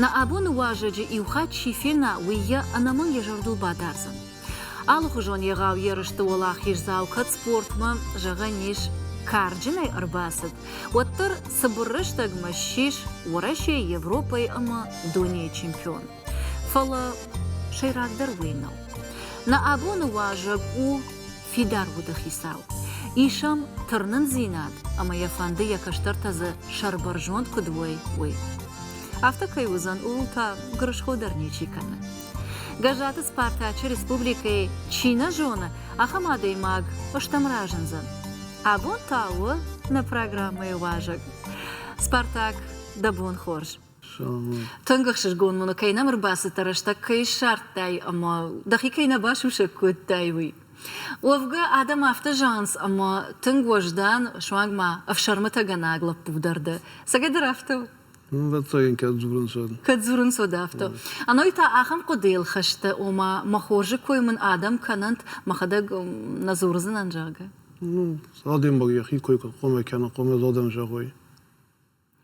Нӕ абоны уазӕджы иу хатт чи фена, уый йӕ ӕнӕмӕнг йӕ зӕрдыл бадардзӕн. Алыхуызон егъау ерысты уӕлахиздзау кӕд спортмӕ, зӕгъӕн ис, карджынӕй ӕрбацыд, уӕддӕр цыбыр рӕстӕгмӕ ссис Уӕрӕсейы, Европӕйы ӕмӕ дунейы чемпион. Фӕлӕ сӕйрагдӕр уый нӕу. Нӕ абоны уазӕг у фидар уыды хицау. Ис ӕм тырнындзинад ӕмӕ йӕ фӕнды йӕ кӕстӕртӕ дзы сӕрбӕрзонд куыд уой, уый. Афтӕ кӕй уыдзӕн, ууыл та гырысхо дӕр ничи кӕны. Гӕззаты Спартачы республикӕйы чи нӕ зоны, ахӕм адӕймаг стӕм разындзӕн. Абон та у нӕ программӕйы уазӕг. Спартак дӕ бон хорз! Тынг ӕхсызгон уын, кӕй нӕм ӕрбацыдтӕ, рӕстӕг кӕй ссардтай ӕмӕ дӕхи кӕй нӕ басусӕг кодтай, уый. Уӕвгӕ, адӕм афтӕ зӕгъынц, ӕмӕ тынг уӕздан, суанг ма ӕфсӕрмытӕгӕнӕг лӕппу дӕр дӕ. Цӕгӕ дӕр афтӕ у? Ӕвӕццӕгӕн кӕд дзурынц, уӕд. Кӕд дзурынц, уӕд афтӕ. Ӕной та ахӕм хъуыдыйыл хӕстӕ, ома, мӕ хорзы кой мын адӕм кӕнӕнт, мӕхӕдӕг нӕ дзурдзынӕн, зӕгъгӕ. Ну, адӕмбаг йӕхи кой куы хъомӕ кӕна, хъомӕ адӕм зӕгъой.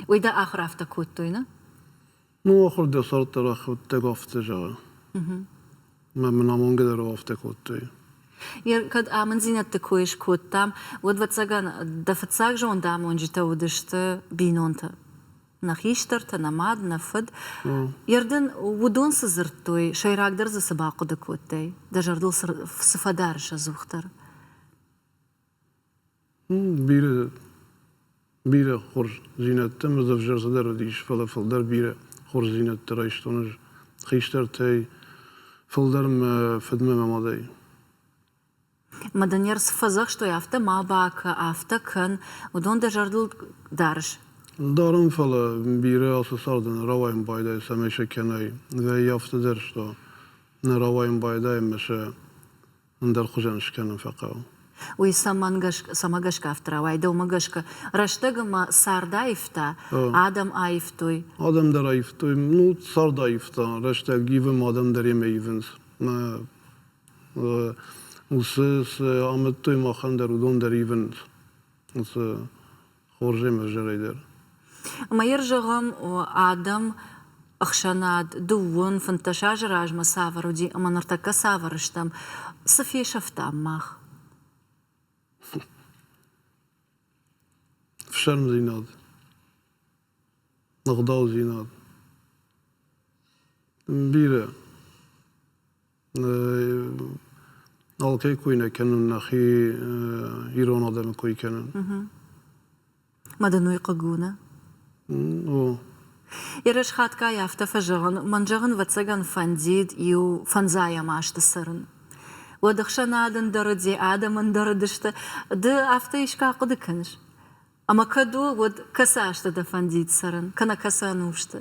Уый дӕ ахуыр афтӕ кодтой, нӕ? Ну, ахуыр дӕ сӕрддӕр ахуырдтӕг афтӕ зӕгъы. Мӕ мын амонгӕ дӕр афтӕ кодтой. Кӕд амынддзинӕдты кой скодтам, уӕд, ӕвӕццӕгӕн, дӕ фыццаг зондамонджытӕ уыдысты бинонтӕ. Нӕ хистӕртӕ, нӕ мад, нӕ фыд. Йӕ рдын уыдон цы дзырдтой, сӕйрагдӕр дзы цы бахъуыды кодтай? Дӕ зӕрдыл цы фӕдарыс ӕдзухдӕр? Бирӕ бирӕ хорздзинӕдтӕ ӕмӕ дзы ӕвзӕрстӕдӕр уыдис, фӕлӕ фылдӕр бирӕ хорздзинӕдтӕ райстон ӕз хистӕртӕй, фылдӕр мӕ фыдмӕ мӕ мадӕй. Мадӕнер цы фӕдзӕхстой, афтӕ ма бакӕ, афтӕ кӕн, уыдон дӕ зӕрдыл дарыс? Дарын, фӕлӕ бирӕ ацы царды нӕ рауайын байдайы, цӕмӕй сӕ кӕнай. Ӕй афтӕ дӕр сты, нӕ рауайын байдайы ӕмӕ сӕ ӕндӕр хуызӕн скӕнын фӕхъӕуы. Уый цӕмӕ гӕсгӕ афтӕ рауайы? Дӕумӕ гӕсгӕ, рӕстӕг ӕмӕ цард аивта? Адӕм аивтой? Адӕм дӕр аивтой. Ну, цард аивта. Рӕстӕг ивы, адӕм дӕр йемӕ ивынц. Уыцы цы амыдтой махӕн дӕр, уыдон дӕр ивынц. хорзӕн ӕвзӕрӕй дӕр. Мӕйӕр зӕгъӕм, адӕм ӕхсӕнад дыууын фынддӕс азы размӕ цавӕр уыди ӕмӕ ныртӕккӕ цавӕр стӕм, цы фесӕфтам мах? Фсӕрмдзинад, ӕгъдаудзинад, бирӕ. Алкӕй кой нӕ кӕнун нӕхи ирон адӕми кой кӕнун. Ма дын уый хъыг у, нӕ? О. Ерыс хатгай афтӕ фӕзӕгъын, мӕн зӕгъын ӕвӕццӕгӕн фӕндид иу фӕндзайӕм азты цӕрын. Уӕд ӕхсӕнад ӕндӕр, де адӕм ӕндӕр уыдысты. Ды афтӕ искӕй хъуыды кӕныс? Ӕмӕ кӕд у, уӕд кӕцы азты дӕ фӕндид цӕрын, кӕнӕ кӕцы ӕнусты?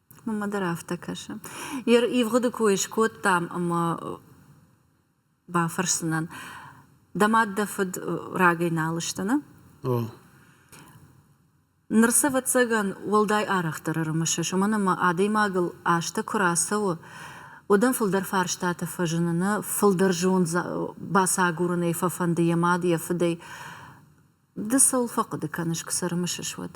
Мамӕ дӕр афтӕ кӕсы. Йе ивгъуыды кой скодтам ӕмӕ бафӕрсынӕн, дӕ мад дӕ фыд рагӕй нал ыстыны? О. Ныр ӕвӕццӕгӕн уӕлдай арӕхдӕр ӕрымысыс, уымӕн ӕмӕ адӕймагыл азтӕ куы рацӕуы, уӕд ӕм фылдӕр фарстатӕ фӕзыныны, фылдӕр зонд бацагурынӕй фӕфӕнды йӕ мад, йӕ фыдӕй. Ды цӕуыл фӕхъуыды кӕныс, куы сӕ рымысыс, уӕд?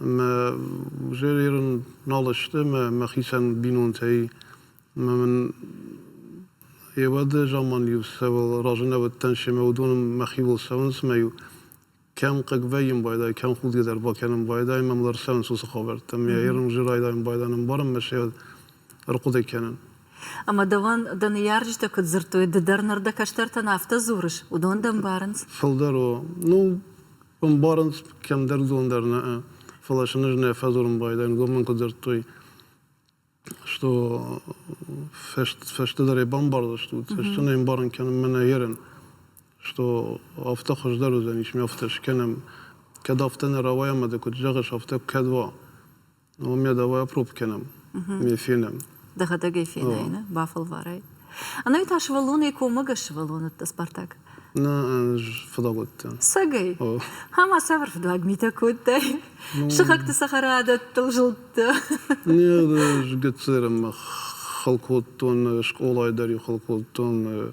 Узер ерын нал сты мӕхицӕн бинонтӕй. Ӕмӕ мын йе уӕды заман-иу цӕуыл разы нӕ уыдтӕн, семӕ уыдон мӕхиуыл цӕуынц ӕмӕ-иу кӕм хъыг вӕййын байдайы, кӕм худгӕ дӕр бакӕнын байдайы, мӕм лӕр цӕуынц уыцы хабӕрттӕ. Ӕмӕ ерын уызӕр райдайын байдайын, ӕмбарын мӕ се ӕрхъуыды кӕнын. Ӕмӕ дӕуӕн дӕ ныййарджытӕ куыд дзырдтой, ды дӕр ныр дӕ кӕстӕртӕн афтӕ дзурыс, уыдон дӕ ӕмбарынц? Фылдӕр у. Ну, ӕмбарынц, кӕмдӕр зон дӕр нӕ, фӕлӕ сын ӕз нӕ фӕдзурын байдайын, уыдон мӕн куы дзырдтой, что фӕстӕдӕр бамбардзыстут, цӕстӕн ӕй ӕмбарын кӕнын мӕнӕ ерын, что афтӕ хуыздӕр уыдзӕнис, ме афтӕ скӕнӕм, кӕд афтӕ нӕ рауайа ӕмӕ дӕ куыд зӕгъыс, афтӕ кӕд уа. У меня давай опробкенam, ме фенам. Дӕхӕдӕгӕй фенай, нӕ? Бафӕлварай. Ӕнӕ та сывӕллонӕй коммӕгӕс сывӕллоныдтӕ Спартак? Нӕ фыдӕлгъӕдтӕ. Сагӕй. Ама сабыр фыдуаг митӕ кодтай? Сыхӕгты цӕхӕрадӕттыл зылдтӕ? Не, гыццылӕй хыл кодтон, скъолайы дӕр-иу хыл кодтон,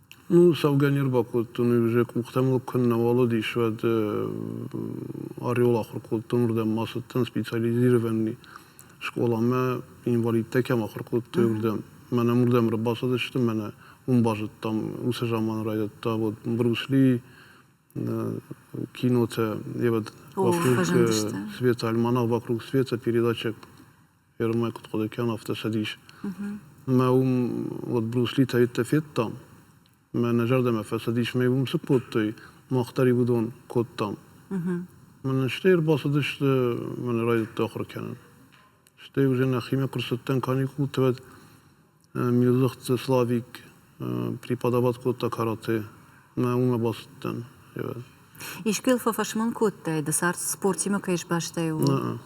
Ну, цӕугӕ не рбакодтон, иузе къухтӕм лӕг куыннӕ уӕлыдис, уӕд ореол ахуыр кодтон, уырдӕм ма цыдтӕн специализированный скъоламӕ, инвалидтӕ кӕм ахуыр кодтой, уырдӕм. Мӕнӕ уырдӕм ӕрбацыдысты, мӕнӕ уым базыдтам, уыцы заман райдыдта вот Брюсли кинотӕ, и вот вокруг Света, альманах вокруг Света передача Первое куыд хъуыды кӕн, афтӕ цӕдис. Мӕ уым уӕд Бруслитӕ йедтӕ федтам. Мӕнӕ зӕрдӕмӕ фӕцӕдис, мӕ уым цы кодтой, мах дӕр уыдон кодтам. Мӕн стӕй ӕрбацыдысты, мӕн райдыдта ахуыр кӕнын. Стӕй уже нӕхимӕ куы рцыдтӕн каникулты, уӕд Милыхъцъы Славик преподават кодта карате. Мӕ уымӕ бацыдтӕн. Искӕй фӕфӕсмон кодтай, ды цард спортимӕ кӕй сбастай, ууыл?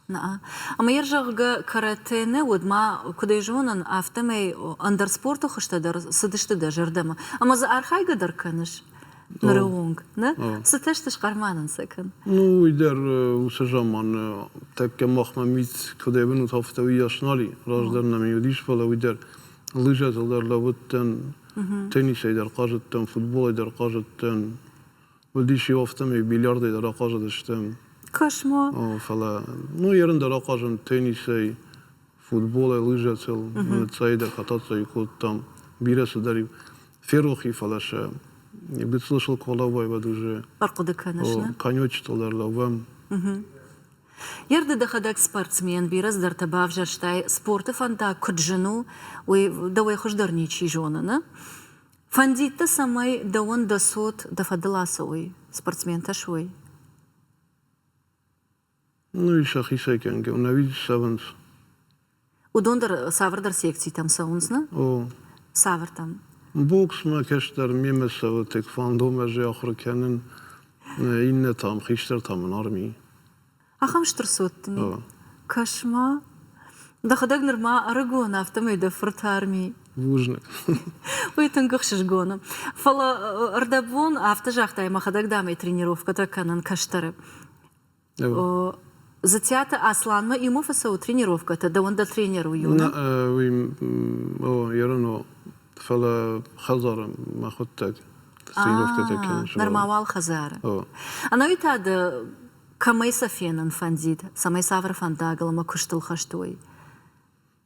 Наа. Ӕмӕ йӕ зӕгъгӕ карате нӕ уыд, ма, куыд ӕй зонын, афтӕмӕй ӕндӕр спорты хуызтӕ дӕр цыдысты дӕ зӕрдӕмӕ. Ӕмӕ дзы архайгӕ дӕр кӕныс? ныры онг нӕ цытӕ сты схъӕрманӕн сӕ кӕн ну уый дӕр уыцы заманы тӕккӕ махмӕ мит куыд ӕвӕнут афтӕ уый ас нал и раздӕр нӕ ми уыдис фӕлӕ уый дӕр лыжӕтыл дӕр лӕууыдтӕн теннисӕй дӕр хъазыдтӕн футболӕй дӕр хъазыдтӕн уыдис иу афтӕмӕй бильярдӕй дӕр ахъазыдыстӕм кошмо фӕлӕ ну ерын дӕр ахъазын теннисӕй футболӕй лыжӕцӕл цӕйдӕр хӕтӕцӕй кодтам. Бирӕ цыдӕр ферохи, фӕлӕ сӕ гыццыл сыл куы лӕууай, уӕд уже фӕхъуыды кӕныс, конечетыл дӕр лӕууӕм. Ерды дӕхӕдӕг спортсмен, бирӕ цыдӕртӕ бавзӕрстай. Спорты фӕндаг куыд зын у, уый дӕуӕй хуыздӕр ничи зоны, нӕ? Фӕндид дӕ, цӕмӕй дӕуӕн дӕ цот дӕ фӕдыл ацӕуой, спортсментӕ суой? Ну и сӕхицӕй кӕнгӕ, нӕуид цӕвынц. Уыдон дӕр цавӕрдӕр секцитӕм цӕуынц, нӕ? О. Цавӕртӕм? Боксмӕ кӕстӕр мемӕ цӕуы, тек фандомӕ ӕз ахуыр кӕнын, иннӕтӕм, хистӕртӕм ын арми. Ахӕм стыр цот дын и? Кӕс-ма. Дӕхӕдӕг нырма ӕрыгон, афтӕмӕй дӕ фырт арми. Бузныг. Уый тынг ӕхсызгон у. Фӕлӕ ӕрдӕбон афтӕ загътай, мӕхӕдӕг, дам, ӕй тренировкӕтӕ кӕнын кӕстӕры. Зытиаты Асланмӕ иумӕ фӕцӕуы тренировкӕтӕ, дӕуӕн дӕ тренер у июны? Нӕ, уый, о, йӕ рано, фӕлӕ хӕдзары мӕ хуыдтат. Тренировкӕтӕ кӕнын. Нырма уал хӕдзары. Ӕнӕуи та ды кӕмӕй сӕ фенын фӕндид, цӕмӕй цавӕр фӕндагыл ӕмӕ куыстыл хӕст уой?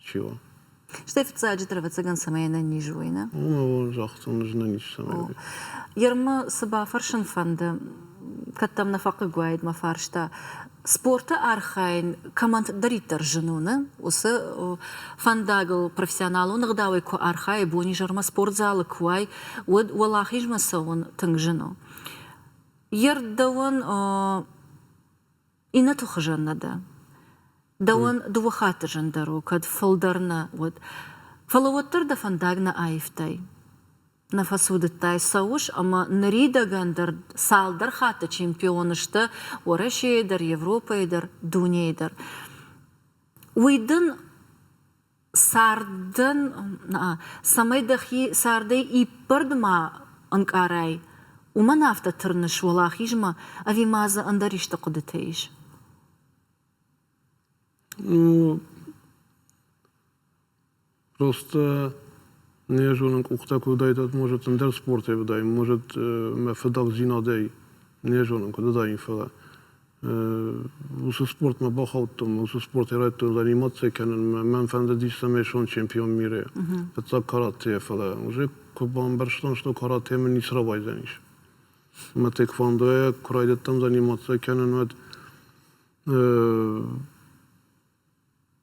Чего? Стӕй фыццаджы дӕр, ӕвӕццӕгӕн, цӕмӕй ӕнӕниз уой, нӕ? Ну, загътон ӕз ӕнӕниз цӕмӕй. Ермы цы бафӕрсын фӕнды, кӕд дӕм нӕ фӕхъыг уаид, мӕ фарста. Спорты архайын кӕмӕндӕриддӕр зын уыны, уыцы фӕндагыл профессионалон ӕгъдауӕй куы архайай, бонизӕрмӕ спортзалы куы уай, уӕд уӕлахизмӕ цӕуын тынг зын у. Йе рддӕуӕн Иннӕты хуызӕн нӕ дӕ. Дӕуӕн дыууӕ хатты зындӕр у, кӕд фылдӕр нӕ, уӕд. Фӕлӕ уӕддӕр дӕ фӕндаг нӕ аивтай. Нӕ фӕцудыдтай, цӕуыс ӕмӕ ныридӕгӕн дӕр цалдӕр хатты чемпион сты Уӕрӕсейы дӕр, Европӕйы дӕр, дунейы дӕр. Уый дын Цардӕн, цӕмӕй дӕхи цардӕй иппӕрд ма ӕнкъарай, уымӕн афтӕ тырныс уӕлахизмӕ, ӕви ма дзы ӕндӕр исты хъуыдытӕ ис? Просто не зонын къухтӕ куы уыдаид, может, ӕндӕр спортӕй уыдаин, может, мӕ фыдӕхдзинадӕй не зонын, куыд уыдаин, фӕлӕ уыцы спортмӕ бахаудтон уыцы спорт ирӕттыл реанимаци кӕнынмӕ мӕн фӕндыдис цӕмӕй суон чемпион мире фыццаг каратейӕ фӕлӕ уже куы бамбӕрстон что карате мын ницы рауайдзӕнис мӕ теквондойӕ куы райдыдтам реанимаци кӕнын уӕд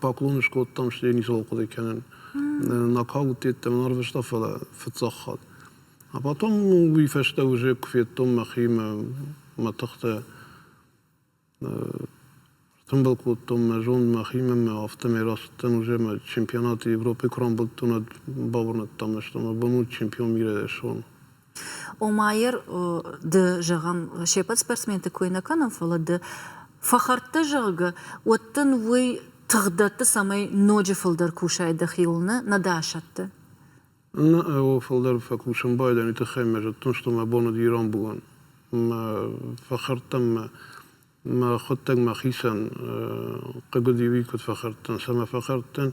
Паклон скодтам, стӕй ницыуал хъуыды кӕнын. Накал уыдтӕн, ӕрвыста, фӕлӕ фыццаг хатт. А потом уый фӕстӕ уже куы федтон мӕхимӕ мӕ тыхтӕ. Тымбыл кодтон мӕ зонд мӕхимӕ, мӕ афтӕмӕй рацыдтӕн уже мӕ чемпионаты Европӕйы куы рамбылдтон, ӕд бауырнӕдтам, нӕ бон у чемпион мира суон. Омайер ды, зӕгъӕм, се ппӕт спортсменты кой нӕ кӕнӕм, фӕлӕ ды фӕхӕрдтӕ, зӕгъгӕ, уӕд дын уый тых дӕтты, цӕмӕй ноджы фылдӕр кусай дӕхиуыл, нӕ нӕ дӕ асӕтты. Нӕ ӕвыл фылдӕр фӕкусын байдайын, уый тыххӕй мӕ зыдтон, што мӕ бон уыд ирон булан. Мӕ фӕхӕрдтам мӕ мӕ хуыдтӕг мӕхицӕн хъыг уыд иуи куыд фӕхӕрдтӕн. Цӕмӕ фӕхӕрдтӕн?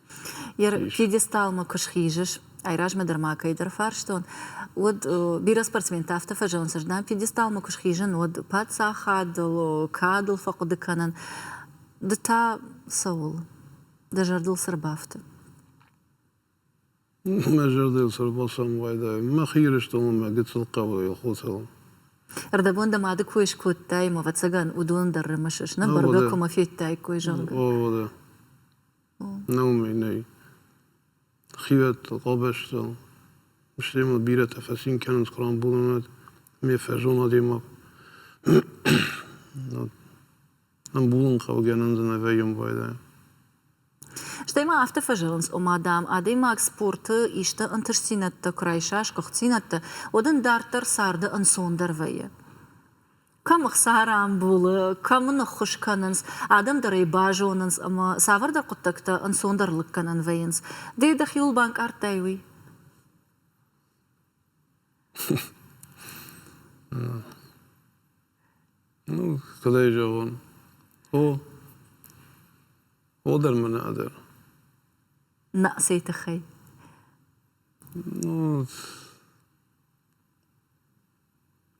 Йӕ пьедесталмӕ куы схизыс, айразмӕ дӕр ма кӕйдӕр фарстон, уӕд бирӕ спортсменты афтӕ фӕзӕгъынц, дам, пьедесталмӕ куы схизын, уӕд паддзахадыл, кадыл фӕхъуыды кӕнын. Ды та цӕуыл? Дӕ зӕрдыл цы ӕрбафты? Мӕ зӕрдыл цы ӕрбалцӕн уайдӕ, мӕхи Ирыстоныл, мӕ гыццыл хъӕуйыл, хотыл. Ӕрдӕбон дӕ мады кой скодтай, ӕмӕ, ӕвӕццӕгӕн, уыдон дӕр рымысыс, нӕ бӕргӕ куымӕ федтаиккой, зӕгъгӕ. О, да. Нӕ уымӕй нӕй. Хивӕд къабӕзтыл, стӕй мыл бирӕтӕ фӕцин кӕнынц къурамбунӕнад, ме фӕзон адӕймаг. Ӕмбулын хъавгӕнӕн дзы нӕ вӕййӕм уӕлдай. Стӕй ма афтӕ фӕзӕгъынц, ома, дам, адӕймаг спорты исты ӕнтыстдзинӕдтӕ куы райса, сгуыхтдзинӕдтӕ, уӕд ын дарддӕр царды ӕнцондӕр вӕййы. кӕм ӕхца рамбулы, кӕм ын ӕххуыс кӕнынц, адӕм дӕр ӕй базонынц ӕмӕ цавӕрдӕр хъуыддӕгтӕ ӕнцондӕр лыг кӕнӕн вӕййынц. Ды дӕхиуыл банкъардтай уый? Ну, куыд ӕй зӕгъон? О, о дӕр мӕ нӕ дӕр. На цӕй тыххӕй? Ну,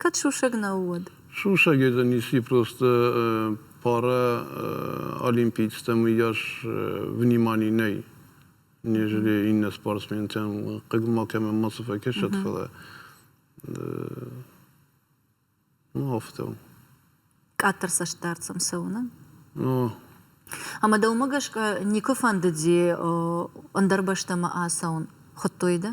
Кӕд сусӕг нӕу, уӕд? Сусӕг езӕн еци просто параолимпийецтӕм ес внимани нӕй. Нежели иннӕ спортсментӕн хъыг макӕмӕн мацы фӕккӕсӕд, фӕлӕ афтӕ у. Къаддӕр цӕстдард сӕм цӕуынӕн? Ӕмӕ дӕумӕ гӕсгӕ никуы фӕндыди ӕндӕр бӕстӕмӕ ацӕуын? Хуыдтой дӕ?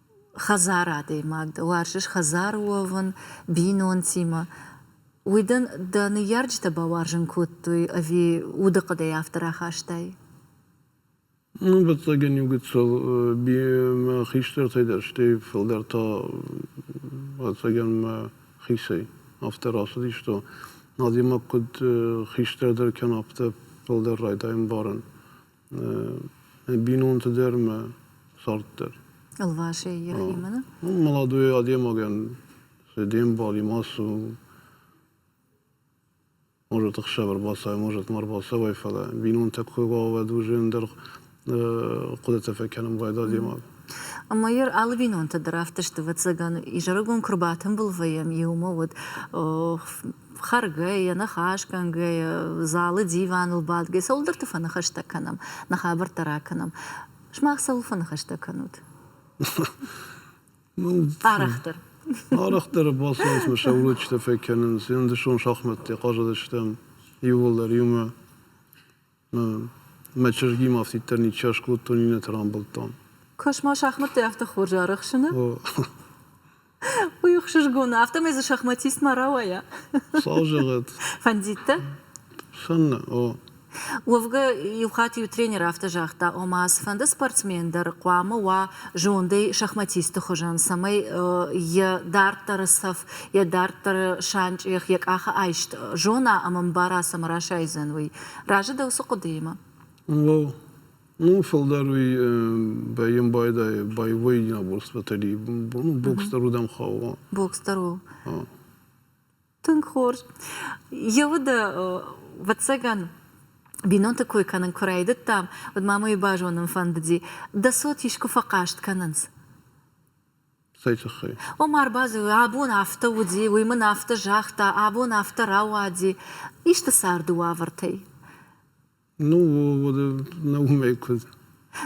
хӕдзар адӕймаг дӕ, уарзыс хӕдзар уӕвын, бинонтимӕ. Уый дын дӕ ныййарджытӕ бауарзын кодтой ӕви удыхъӕдӕй афтӕ рахастай? Ӕвӕццӕгӕн иугыццыл мӕ хистӕртӕй дӕр, стӕй фылдӕр та ӕвӕццӕгӕн мӕ хисӕй афтӕ рацыдисты. Адӕймаг куыд хистӕрдӕр кӕна, афтӕ фылдӕр райдайы ӕмбарын бинонты дӕр мӕ цард дӕр. Ӕлвасӕй йӕхимӕ нӕ? Молодой адӕймагӕн де мбали ма цу. Может, ӕхсӕвӕр бацай, может, ма рбацӕуай, фӕлӕ бинонтӕ кой уӕвӕд уже ӕндӕр хъуыдытӕ фӕкӕнын байда адӕймаг. Ӕмӕ йӕ алы бинонтӕ дӕр афтӕ сты. Ӕвӕццӕгӕн, изӕрыгон куы рбатымбылвӕйӕм, иумӕ уӕд Хӕргӕйӕ, ныхас кӕнгӕйӕ, залы диваныл бадгӕйӕ, цӕуылдӕрты фӕныхӕстӕ кӕнӕм, нӕ хабӕрттӕ ракӕнӕм. Сымах цӕуыл фӕныхӕстӕ кӕнут? Арӕхдӕр. Арӕхдӕр бацӕуынц сӕ уроджытӕ фӕкӕнынц. Ӕндӕрсон шахмӕттӕ хъазыдыстӕм иууылдӕр иумӕ. Мӕ чызгимӕ афтиддӕр ничи аскодтон, иннӕты рамбылдтон. Космос шахмӕттӕй афтӕ хорз арӕхсыны? Уый ӕхсызгон у, афтӕмӕй дзы шахматист ма рауайа. Сау зӕгъӕт. Фӕндид дӕ? Фӕнды, о. Уӕвгӕ, иу хатт иу тренер афтӕ загъта, ома цыфӕнды спортсмен дӕр хъуамӕ уа зондӕй шахматисты хуызӕн, цӕмӕй йӕ дарддӕры цӕф, йӕ дарддӕры санчъех йӕ къахы айст зона ӕмӕ мбара, цӕмӕ расайдзӕн уый. Разы дӕу цы хъуыдыимӕ? О, ну, фылдӕр уый бӕйын байдайы, боевой набор с батареей. Ну, бокс дӕр уыдам хауы. Бокс дӕр у. Тынг хорз. Йӕ уды, ӕвӕццӕгӕн, бинонты кой кӕнын куы райдыдтам, уӕд ма мӕ уый базонын фӕндыди, дӕ цот искуы фӕхъаст кӕнынц? Цӕй тыххӕй? Омар Базелы абон афтӕ уыди, уый мын афтӕ загъта, абон афтӕ рауади, исты царды уавӕртӕй. Ну, нӕ уымӕй куыд.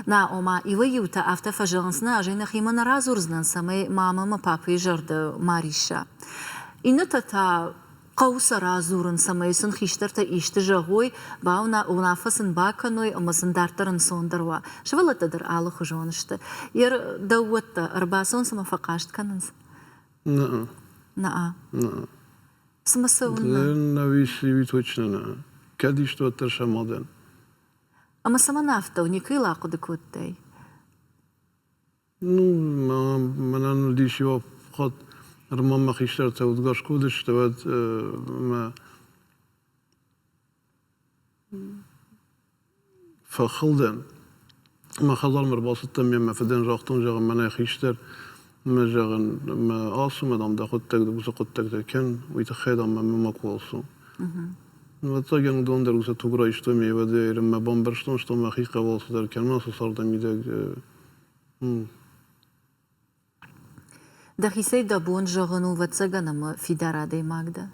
Нӕ, ома, иуӕй-иутӕ афтӕ фӕзӕгъынц, нӕ, ӕз ӕй нӕхимӕ нӕ радзурдзынӕн, цӕмӕй мамӕ мӕ папӕйы зӕрды ма рисса. Иннӕтӕ та Хъӕуы сӕ радзурын, цӕмӕй сын хистӕртӕ исты зӕгъой, уынаффӕ сын бакӕной ӕмӕ сын дарддӕр ӕнцондӕр уа. Сывӕллӕттӕ дӕр алыхуызон сты. Йе рдӕуӕттӕ ӕрбацӕуын цӕмӕ фӕхъаст кӕнынц? Наа. Наа. Наа. В смысле он на? На высшие вид точно наа. Кӕд исты уӕддӕр сӕ мад ӕн. Ӕмӕ цӕмӕн афтӕ у? Никӕйыл ахъуыды кодтай? Мӕнӕн уыдис иу хатт, ныр ма мӕ хистӕртӕ удгарз куы уыдысты, уӕд мӕ фӕхылдӕн. Мӕ хӕдзармӕ ӕрбацыдтӕн, ме мӕ фыдӕн загътон, зӕгъын, мӕнӕй хистӕр, мӕ зӕгъын, мӕ ацу, ма, дам, дӕ хъуыддаг, дӕ уыцы хъуыддӕгтӕ кӕн, уый тыххӕй, дам, мӕ макуы ацу. Ӕвӕццӕгӕн уыдон дӕр уыцы туг райстой, ме ӕвӕдӕй, ӕрӕм мӕ бамбӕрстон, что мӕхи хъӕбӕл цыдӕр кӕн, ма сӕ цардӕмидӕг Дӕхицӕй дӕ бон зӕгъын у ӕвӕццӕгӕн ӕмӕ фидар адӕймаг дӕ?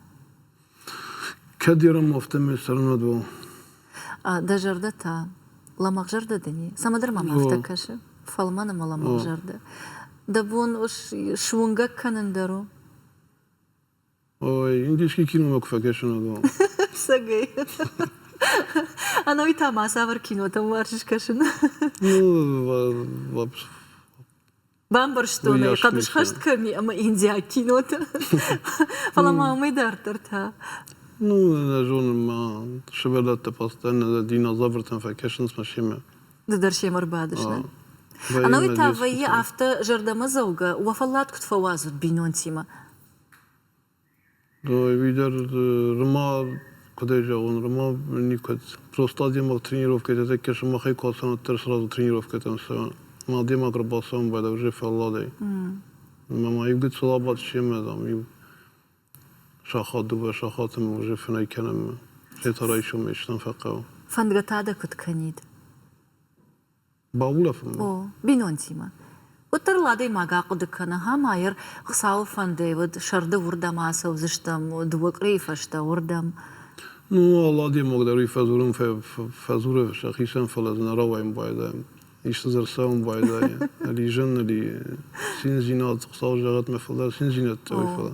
Кӕд ером афтӕмӕй цӕрын уӕд уал? Дӕ зӕрдӕ та лӕмӕгъзӕрдӕ дын и? Цӕмӕдӕр мӕм афтӕ кӕсы, фӕлмӕн ӕмӕ лӕмӕгъзӕрдӕ. Дӕ бон суынгӕг кӕнын дӕр у? Ой, индийский кино куы фӕкӕсын ӕгъгъӕд. Сагӕй. Ӕнӕуый та мацавӕр кинотӕм уарз скӕсын? Ну, бамбӕрстон ӕй хъӕбысхӕст кӕм и ӕмӕ индиаг кинотӕ. Фӕлӕ ма уымӕй дарддӕр та? Ну, нӕ зонын, ма сывӕллӕтты фӕстӕ нӕ динозавртӕм фӕкӕсынц мӕ семӕ. Ды дӕр семӕ ӕрбадыс, нӕ? Ӕнӕуый та вӕййы афтӕ зӕрдӕмӕдзӕугӕ, уӕ фӕллад куыд фӕуадзут бинонтимӕ? Ӕви-дӕр рымӕ куыдӕй зӕгъон, рымӕ никуыд. Просто адӕймаг тренировкӕйты тӕккӕ сымахӕй куы ацӕуон, уӕддӕр сразу тренировкӕтӕм цӕуон. Ма адӕймаг ӕрбацӕуын байда уже фӕлладӕй. Ӕмӕ ивгъуыд цыл абадт семӕ, дам, иу сахат, дыууӕ сахаты мын уже фынӕй кӕнӕм мы. Хетӕ райсомӕй стӕм фӕхъӕуы. Фӕндгӕ та дӕ куыд кӕнид? Баулӕфын. О, бинонтимӕ. Уӕддӕр ыл адӕймаг ахъуыды кӕны, Гамайыр Хуыцауы фӕндӕй уыд, сӕрды уырдӕм ацӕудзыстӕм, дыууӕ къуырийы фӕстӕ уырдӕм. Ну, алы адӕймаг дӕр уый фӕдзурын фӕдзуры сӕхицӕн, фӕлӕ дзы нӕ рауайын байдайы. Исты дзы ӕрцӕуын байдайы. Ализӕн, али циндзинад, Хуыцау зӕгъӕд мӕ фылдӕр циндзинӕдтӕ уый, фӕлӕ.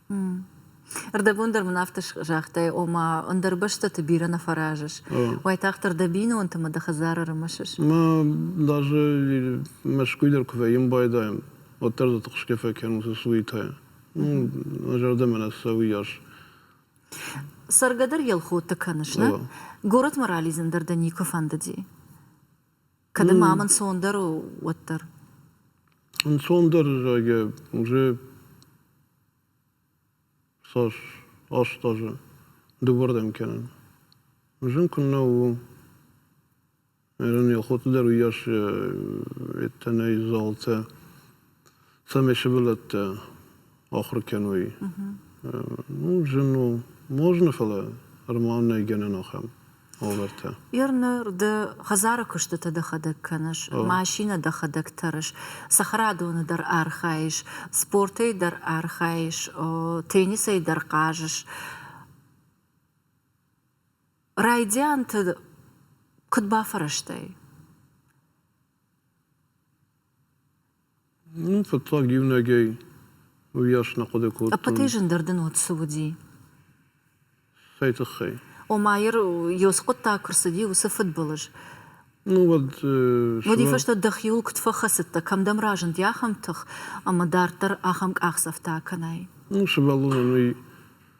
Ӕрдӕбон дӕр мын афтӕ загътай, ома ӕндӕр бӕстӕты бирӕ нӕ фӕразыс. Уайтагъддӕр дӕ бинонтымӕ дӕ хӕдзары ӕрымысыс? Мӕ даже Мӕскуй дӕр куы вӕййын байдайын, уӕддӕр дзы тыхсгӕ фӕкӕнын уыцы суетӕйӕ. Мӕ зӕрдӕмӕ нӕ цӕуы йас. Цӕргӕ дӕр Елхотты кӕныс, нӕ? Горӕтмӕ ралидзын дӕр дӕ никуы фӕндыди? Кӕд ма ам ӕнцондӕр у, уӕддӕр? Ӕнцондӕр зӕгъгӕ уже цас аст азы дывӕрдӕм кӕнын. Зын куыннӕ у, ӕрӕн Елхоты дӕр уыйас йедтӕ нӕй залтӕ. цӕмӕй сывӕллӕттӕ ахуыр кӕной. Ну, зын у. Ма зыны, фӕлӕ ӕрмӕн нӕй гӕнӕн ахӕм уавӕртӕ. Ир ныр ды хӕдзары куыстытӕ дӕхӕдӕг кӕныс, машинӕ дӕхӕдӕг тӕрыс, цӕхӕрадоны дӕр архайыс, спортӕй дӕр архайыс, теннисӕй дӕр хъазыс. Райдианты куыд бафӕрӕзтай? Фыццаг иунӕгӕй уыйас нӕ хъуыды кодтон. Ӕппӕтӕй зындӕр дын уӕд цы уыди? Цӕй тыххӕй? Омайыр Ёсы хъуыддаг куы рцыди, уыцы фыдбылыз. Ну, уӕд. Уӕди фӕстӕ дӕхиуыл куыд фӕхӕцыдтӕ, кӕмдӕм разынди ахӕм тых, ӕмӕ дарддӕр ахӕм къахдзӕфтӕ акӕнай? Ну, сывӕллонӕн уый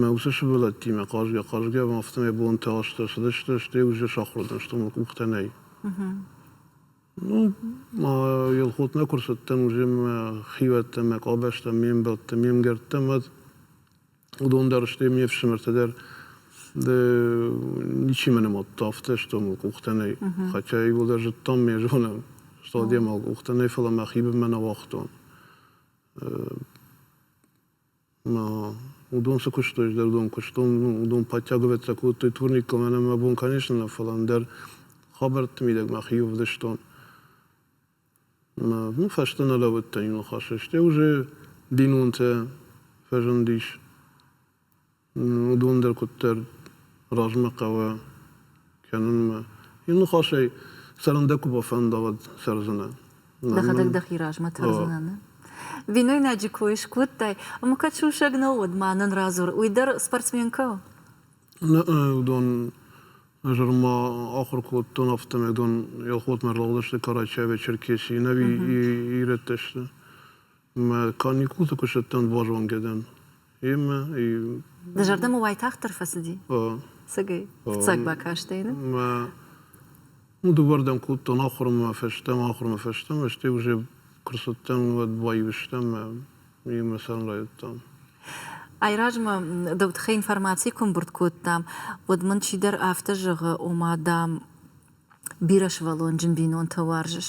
Мӕ уыцы сывӕллӕттимӕ хъазгӕ-хъазгӕ афтӕмӕй бонтӕ азтӕ цыдысты, стӕй уызджы сахуыр уыдысты, мӕ къухтӕ нӕй. Ну, ма Елхотмӕ куы рцыдтӕн, уыземмӕ хивӕдтӕ, мӕ къабӕзтӕ, ме мбӕлттӕ, ме мгӕрттӕ, мад уыдон дӕр, стӕй ме фсымӕртӕ дӕр, ды ничи мӕ нымадта, афтӕ сты, мыл къухтӕ нӕй. Хотя иууылдӕр зыдтам, мӕ зонӕм, сто адӕмау къухтӕ нӕй, фӕлӕ мӕ хибынмӕ нӕ уагътон. Уыдон цы куыстой, ӕз дӕр уыдон куыстон, уыдон подтягиваться кодтой турниккӕм, ӕнӕ мӕ бон конечно нӕ, фӕлӕ ӕндӕр хабӕртты мидӕг мӕхи ӕвдыстон. Мӕ фӕстӕ нӕ лӕууыдтӕн иу ныхасӕй, стӕй уже бинонтӕ фӕзындис. Уыдон дӕр куыддӕр размӕ хъӕуы. кӕнынмӕ. Йын ныхасӕй цӕрын дӕ куы бафӕнда, уӕд цӕрдзынӕ. Дӕхӕдӕг дӕхи размӕ тӕрдзынӕ, нӕ? Бинойнаджы кой скодтай, ӕмӕ кӕд сусӕг нӕу, уӕд ма нын радзур, уый дӕр спортсменкӕ у? Нӕ, уыдон ӕз ӕрма ахуыр кодтон, афтӕмӕй дон Елхотмӕ ӕрлӕгъдысты Карачаевы Черкесийы, ӕви ирӕттӕ сты. Мӕ каникулты куыстӕттӕн базонгӕ дӕн. Йемӕ Дӕ зӕрдӕмӕ уайтагъддӕр фӕцыди? Цыгай? Фыццаг бакастӕй, нӕ? Мӕ дывӕрдӕм кодтон ахуырмӕ фӕстӕмӕ, ахуырмӕ фӕстӕмӕ, стӕй уже куы рцыдтӕн, уӕд баивыстӕн мӕ йемӕ цӕрын райдыдтам. Айразмӕ дӕу тыххӕй информаци куы мбырд кодтам, уӕд мын чидӕр афтӕ зӕгъы, ома, дам, бирӕсывӕллонджын бинонтӕ уарзыс.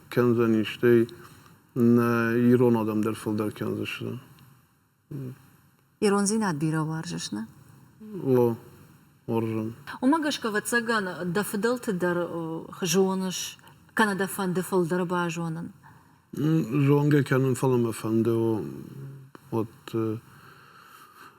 кӕндзӕни, стӕй нӕ ирон адӕм дӕр фылдӕр кӕндзысты. Ирондзинад бирӕ уарзыс, нӕ? О, уарзын. Уымӕ гӕсгӕ, ӕвӕццӕгӕн, дӕ фыдӕлты дӕр зоныс, кӕнӕ дӕ фӕнды фылдӕр базонын? Зонгӕ кӕнын, фӕлӕ мӕ фӕнды, о, вот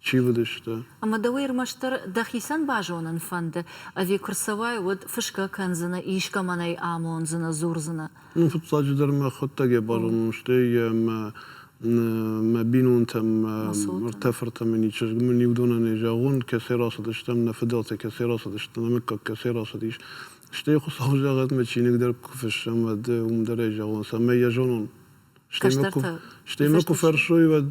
Чи уыдысты? Ӕмӕ дӕу ӕрмӕстдӕр дӕхицӕн базонын фӕнды, ӕви куы рцӕуай, уӕд фысгӕ кӕндзынӕ, искӕмӕн ӕй амондзынӕ, дзурдзынӕ? Ну, фыццаджыдӕр мӕ хъуыддагӕй базонон, стӕй йӕ мӕ бинонтӕм, мӕ ртӕ фыртӕм ӕни чызг, мын иу донӕн ӕй зӕгъон, кӕцӕй рацыдыстӕм, нӕ фыдӕлтӕ кӕцӕй рацыдысты, нӕ мыггаг кӕцӕй рацыдис. Стӕй Хуыцауы загъадмӕ чиныг дӕр куы фыссӕм, уӕд уым дӕр ӕй зӕгъон, цӕмӕй йӕ зонон. Стӕй мӕ куы, стӕй мӕ куы фӕрсой, уӕд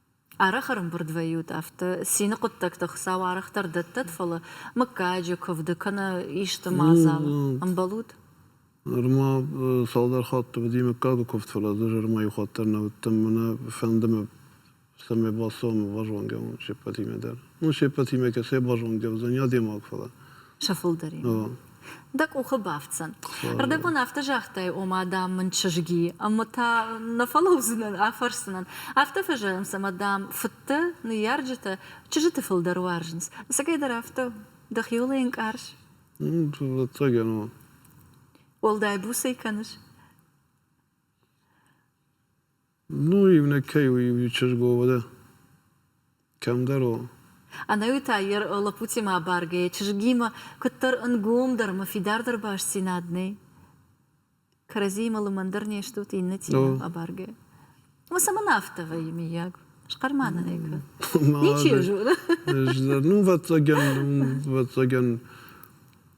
Арӕх ӕрымбырд вӕййут афтӕ, цины хъуыддӕгты Хуыцау арӕхдӕр дӕттӕд, фӕлӕ мыггаджы куывды кӕнӕ исты мадзалы ӕмбӕлут? Ныр ма цалдӕр хатты уыди мыггагы куывд, фӕлӕ ӕз ӕрмӕ иу хатт дӕр нӕ уыдтӕн, мӕнӕ фӕнды мӕ, цӕмӕй бацӕуӕм базонгӕ уон се ппӕтимӕ дӕр. Ну, се ппӕтимӕ кӕцӕй базонгӕ уыдзӕни адӕймаг, фӕлӕ. Сӕ фылдӕр. дӕ къухы бафтдзӕн. Рдӕбон афтӕ загътай, ома, дам, мын чызги, ӕмӕ та нӕ фӕлӕудзынӕн, афӕрсдзынӕн. Афтӕ фӕзӕгъынц, ӕмӕ, дам, фыдтӕ, ныййарджытӕ чызджыты фылдӕр уарзынц. Ӕцӕгӕй дӕр афтӕ у? Дӕхиуыл ӕй ӕнкъарыс? Ӕцӕгӕн у. Уӕлдай буцӕй кӕныс? Ну, иунӕгкӕй у иу чызгуо, уӕдӕ кӕмдӕр у. Ӕнӕуи та йе лӕппутимӕ абаргӕйӕ чызгимӕ куыддӕр ӕнгомдӕр ӕмӕ фидардӕр бастдзинад нӕй. Кӕрӕдзиимӕ лымӕндӕр не стут иннӕтимӕ абаргӕйӕ. Уыцы мын афтӕ вӕййы, миййаг. Схъӕрмӕ нӕ нӕй кӕд. Ничи зоны. Ну, ӕвӕццӕгӕн, ну, ӕвӕццӕгӕн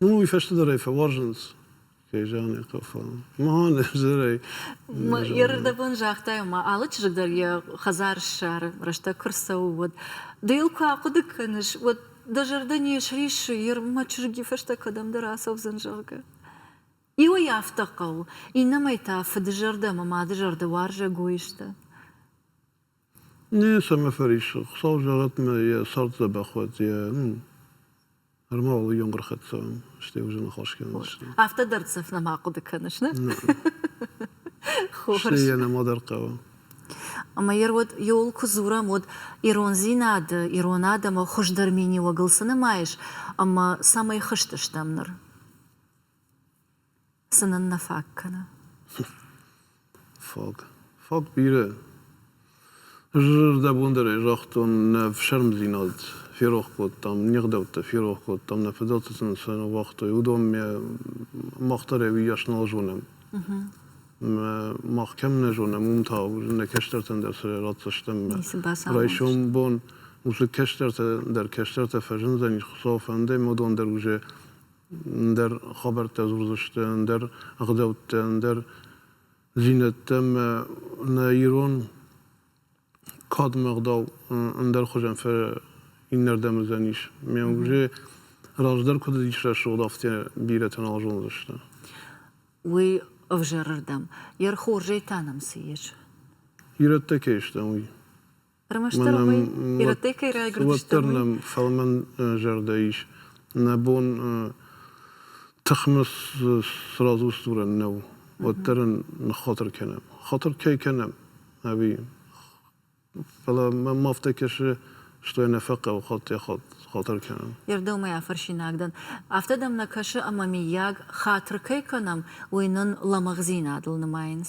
Ну, уый фӕстӕ дӕр ӕй фӕуарзынц. Кӕй зӕгъын ӕй хъӕуы. Мӕн ӕвзӕрӕй. Йӕ рдӕбон загътай, ма алы чызг дӕр йӕ хӕдзар ссары, рӕстӕг куы рцӕуы, уӕд. Ды йыл куы ахъуыды кӕныс, уӕд дӕ зӕрдӕ не сриссы, йе рмӕ чызг фӕстӕ кӕдӕмдӕр ацӕудзӕн, зӕгъгӕ. Иуӕй афтӕ хъӕуы, иннӕмӕй та фыдызӕрдӕ ӕмӕ мады зӕрдӕ уарзӕгой сты. Ницӕмӕ фӕриссы, хуыцау зӕгъӕт мӕ йӕ цард дзӕбӕх уӕд, йӕ ӕрмӕгъыл ӕй ӕмгуырхӕццӕ уӕм, стӕй уызы ныхас кӕндзысты. Афтӕ дӕрддзӕф нӕма хъуыды кӕныс, нӕ? Стӕй йӕ нӕма дӕр хъӕуы. Ӕмӕ йӕ уӕд иууыл куы дзурӕм, уӕд ирондзинады, ирон адӕмы хуыздӕр миниуӕгыл цы нымайыс ӕмӕ цӕмӕй хызтыстӕм ныр? Цы нын нӕ фаг кӕны? Фаг. Фаг бирӕ. Ӕз зӕрдӕбон дӕр ӕй загътон, нӕ фсармдзинад ферох кодтам, не гъдӕуттӕ ферох кодтам, нӕ фыдӕлты сын сын уагътой, уыдонмӕ мах дӕр ӕвиас нал зонӕм. Мах кӕм нӕ зонӕм, уым та нӕ кӕстӕртӕн дӕр сӕ ратдзыстӕм. Райсом бон уыцы кӕстӕртӕ дӕр кӕстӕртӕ фӕзындзӕнис, Хуыцау фӕнды, ӕмӕ уыдон дӕр уже ӕндӕр хабӕрттӕ дзурдзысты, ӕндӕр ӕгъдӕуттӕ, ӕндӕр зинӕдтӕ ӕмӕ нӕ ирон кадмӕ ӕгъдау ӕндӕр хуызӕн иннӕрдӕм уыдзӕнис. Ме музе раздӕр куыд ис рӕсугъд, афтӕ бирӕтӕ нал зондзысты. Уый ӕвзӕрырдӕм, йӕ хорзӕй та нӕм цы ис? Ирӕттӕ кӕй стӕм, уый. Ӕрмӕстдӕр уый ирӕттӕй кӕй райгуырдысты, уӕддӕр нӕм фӕлмӕн зӕрдӕ ис. Нӕ бон тыхмыс сразусдурӕн нӕу, уӕддӕр ын ныххатыр кӕнӕм. Хатыр кӕй кӕнӕм, ӕви фӕлӕ мӕм афтӕ кӕсы, что я нӕ фӕхъӕуы хатыр кӕнын. Йе рдӕмӕй афӕрсинаг дӕн. Афтӕ дӕм нӕ кӕсы, ӕмӕ, миййаг, хатыр кӕй кӕнӕм, уый нын лӕмӕгъдзинадыл нымайынц?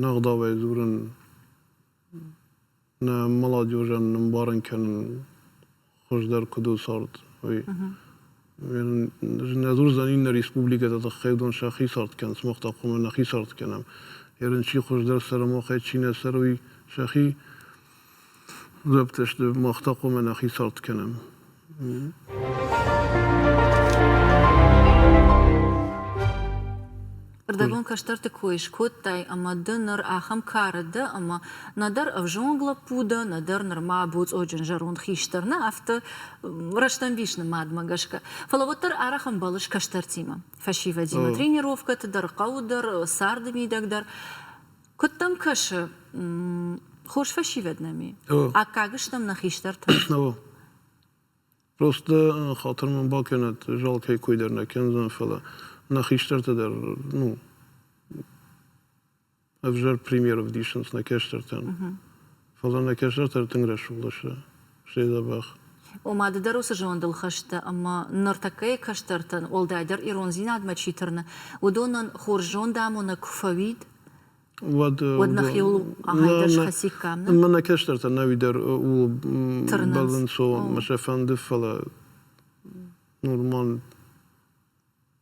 Нӕ ӕгъдауӕй дзурын, нӕ молодежӕн ӕмбарын кӕнын хуыздӕр куыд у цард, уый. Нӕ дзурдзӕн иннӕ республикӕты тыххӕй уыдон сӕхи цард кӕнынц, мах та хъуамӕ нӕхи цард кӕнӕм. Ерын чи хуыздӕр цӕры, махӕй чи нӕ цӕры, уый сӕхи Запдзысты, мах та хъуамӕ нӕхи цард кӕнӕм. Ӕрдӕгон кӕстӕрты кой скодтай ӕмӕ ды ныр ахӕм кары дӕ, ӕмӕ нӕдӕр ӕвзонг лӕппу дӕ, нӕдӕр нырма буцъоджын зӕронд хистӕр нӕ, афтӕ рӕстӕмбис нымадмӕ гӕсгӕ. Фӕлӕ уӕддӕр арӕх ӕмбӕлыс кӕстӕртимӕ. Фӕсивӕдимӕ тренировкӕты дӕр, хъӕуы дӕр, царды мидӕг дӕр. Куыд дӕм кӕсы, хорз фӕсивӕд нӕм и? Аккаг стӕм нӕ хистӕртӕ? Основа. Просто хатыр мын бакӕнӕд, зал кӕй кой дӕр нӕ кӕндзӕн, фӕлӕ нӕ хистӕртӕ дӕр, ну, ӕвзӕр пример ӕвдисынц нӕ кӕстӕртӕн. Фӕлӕ нӕ кӕсӕртӕ тынг рӕсугъд сты, стӕй дзӕбӕх. Ома ды дӕр уыцы зондыл хӕст дӕ, ӕмӕ ныртӕккӕйы кӕстӕртӕн, уӕлдайдӕр ирондзинадмӕ чи тырны, уыдонӕн хорз зондамонӕг куы фӕуид, уӕд уӕд нӕхиуыл ахӕмдӕр схӕциккам, нӕ? Ӕмӕ нӕ кӕстӕртӕ науи дӕр ууыл бӕлынц, о, ӕмӕ сӕ фӕнды, фӕлӕ нормаль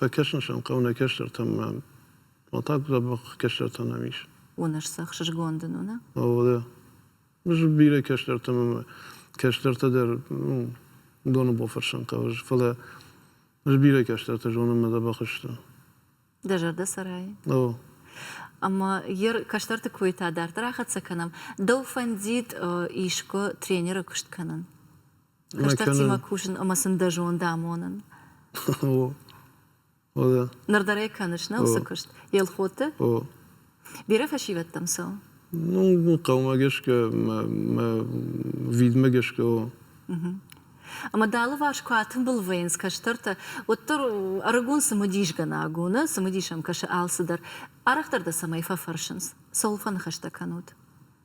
Фӕкӕсын сӕм хъӕуы нӕ кӕстӕртӕм мӕн. Уӕ та дзӕбӕх кӕстӕртӕ нӕм ис. Уыныс сӕ ӕхсызгон дын у, нӕ? О, да. Бирӕ кӕстӕртӕ ӕмӕ кӕстӕртӕ дӕр, ну, уыдоны бофӕрсӕн хъӕуы, фӕлӕ ӕз бирӕ кӕстӕртӕ зонын мӕ дзӕбӕх сты. Дӕ зӕрдӕ цӕрайы? О. Ӕмӕ йе кӕстӕрты койтӕ дарддӕр ахӕццӕ кӕнӕм. Дӕу фӕндид искуы тренеры куыст кӕнын? Хӕстӕгтимӕ кусын ӕмӕ сын дӕ зонд амонын. Ныр дӕр ӕй кӕныс, нӕ уыцы куыст? Елхоты? Бирӕ фӕсивӕдтӕм цӕуы? Ну, хъӕумӕ гӕсгӕ, мӕ видмӕ гӕсгӕ у. Ӕмӕ дӕ алыварс куы атымбыл вӕййынц кӕстӕртӕ, уӕддӕр ӕрыгон цымыдисгӕнӕг у, нӕ? Цымыдисӕм кӕсы алцыдӕр. Арӕхдӕр дӕ цӕмӕй фӕфӕрсынц? Цӕуыл фӕныхӕстӕ кӕнут?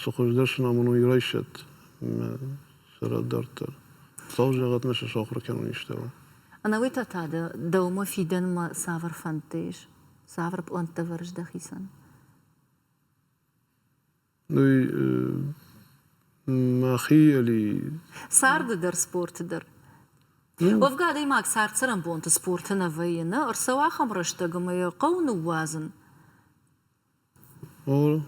Цы хуыздӕр сын амоной, райсӕд сӕ рад дарддӕр. Хуыцау зӕгъӕт, нӕ сӕ сахуыр кӕнон истӕмӕ. Ӕнӕуый та та дӕ дӕумӕ фидӕнмӕ цавӕр фӕндтӕ ис? Цавӕр пълӕнттӕ ӕвӕрыс дӕхицӕн? Ой, мӕхи али. Царды дӕр, спорты дӕр. Уӕвгӕ адӕймаг цард-цӕрӕнбонты спорты нӕ вӕййы, нӕ ӕрцӕуы ахӕм рӕстӕг, ӕмӕ йӕ хъӕуы ныууадзын. О,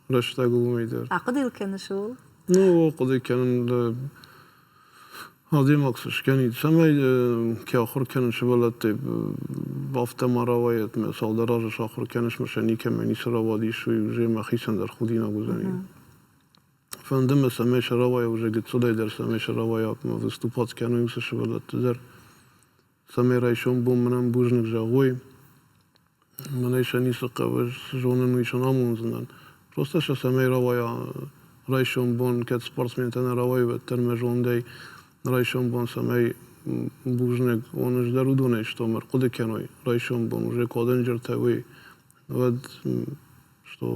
рӕстӕг уымӕй дӕр. Ахъуыды йыл кӕныс ууыл? Ну, хъуыды кӕнын дӕ адӕймаг цы скӕнид, цӕмӕй кӕй ахуыр кӕнын сывӕллӕттӕй афтӕ ма рауайӕт мӕ цалдӕр азы сахуыр кӕныс мӕ сӕ никӕмӕ ницы рауадис, уый уызӕй мӕ хицӕн дӕр худинаг уыдзӕни. Фӕнды мӕ, цӕмӕй сӕ рауайа, уызӕй гыццылӕй дӕр цӕмӕй сӕ рауайа, выступат кӕной цы сывӕллӕтты дӕр. цӕмӕй райсом бон мынӕм бузныг зӕгъой. Мӕнӕй сӕ ницы хъӕуы, зонын уый сӕ амондзынӕн. Просто сӕ цӕмӕй рауайа райсом бон, кӕд спортсментӕ нӕ рауайы, уӕддӕр мӕ зондӕй райсом бон цӕмӕй бузныг уон ӕз дӕр уыдонӕй, што мӕ рхъуыды кӕной райсом бон уже куы адӕнджертӕ уой, уӕд што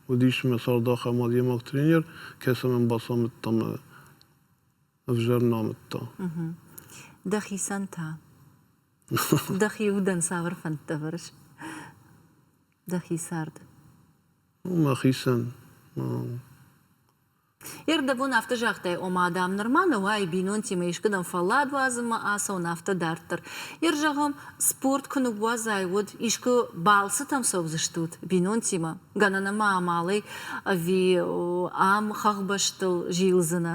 уыдис мӕ цард ахӕм адӕймаг тренер, кӕцы мӕн бацамыдта ӕмӕ ӕвзӕр намыдта. Дӕхицӕн та? Дӕхи удӕн цавӕр фӕндтӕ вӕрыс? Дӕхи цард? Мӕхицӕн. Йе рдӕбон афтӕ загътай, ома, дам, нырма нӕ уай бинонтимӕ искуыдӕм фӕллад уадзынмӕ ацӕуын, афтӕ дарддӕр. Йе рзӕгъӕм, спорт куы ныууадзай, уӕд искуы балцытӕм цӕудзыстут бинонтимӕ? Гӕнӕн ӕмӕ амалӕй ӕви ам хӕхбӕстыл зилдзынӕ?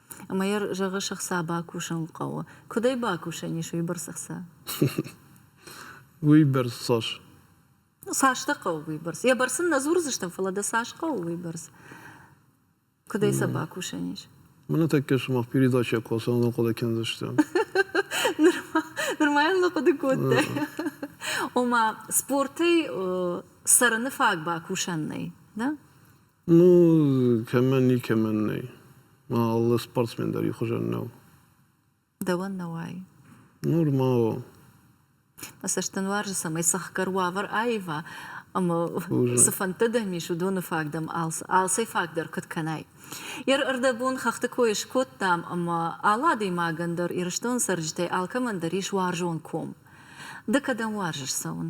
Ӕмӕ йӕ зӕгъы, сыхца бакусын хъӕуы. Куыд ӕй бакусӕн ис уыйбӕрц ӕхца? Уыйбӕрц цас? Цас дӕ хъӕуы уыйбӕрц? Йӕ бӕрц ын нӕ дзурдзыстӕм, фӕлӕ дӕ цас хъӕуы уыйбӕрц? Куыд ӕй сӕ бакусӕн ис? Мӕнӕ тӕккӕ сымах передачӕ куы ацӕуын хъуыды кӕндзыстӕм. Нырма йын хъуыды кодтай. Ома, спортӕй цӕрыны фаг бакусӕн нӕй, да? Ну, кӕмӕн, никӕмӕн нӕй. Мӕ алы спортсмен дӕр ихуызӕн нӕу. Дӕуӕн нӕ уайы? Нормал. Мӕ цӕст дын уарзы, цӕмӕй сӕхгӕр уавӕр аива, ӕмӕ цы фӕндтӕ дӕм ис, уыдоны фаг дӕм алцӕй фаг дӕр куыд кӕнай. Йӕ рӕрдӕбон хӕхты кой скодтам, ӕмӕ алы адӕймагӕн дӕр, Ирыстоны цӕрджытӕй алкӕмӕн дӕр ис уарзон ком. Ды кӕдӕм уарзыс цӕуын?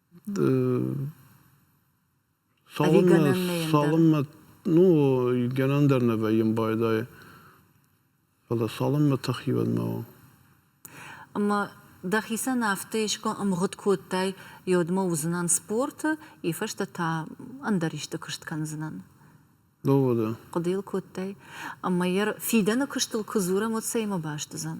Цалынмӕ, ну, гӕнӕн дӕр нӕ вӕййы байдайы, фӕлӕ цалынмӕ тӕхивӕдмӕ у. Ӕмӕ дӕхицӕн афтӕ искуы ӕмгъуыд кодтай, йодмӕ уыдзынӕн спорты, и фӕстӕ та ӕндӕр исты куыст кӕндзынӕн? Доводы. Хъуыды йыл кодтай? Ӕмӕ йӕ фидӕны куыстыл куы дзурӕм, уӕд цӕимӕ баст уыдзӕн?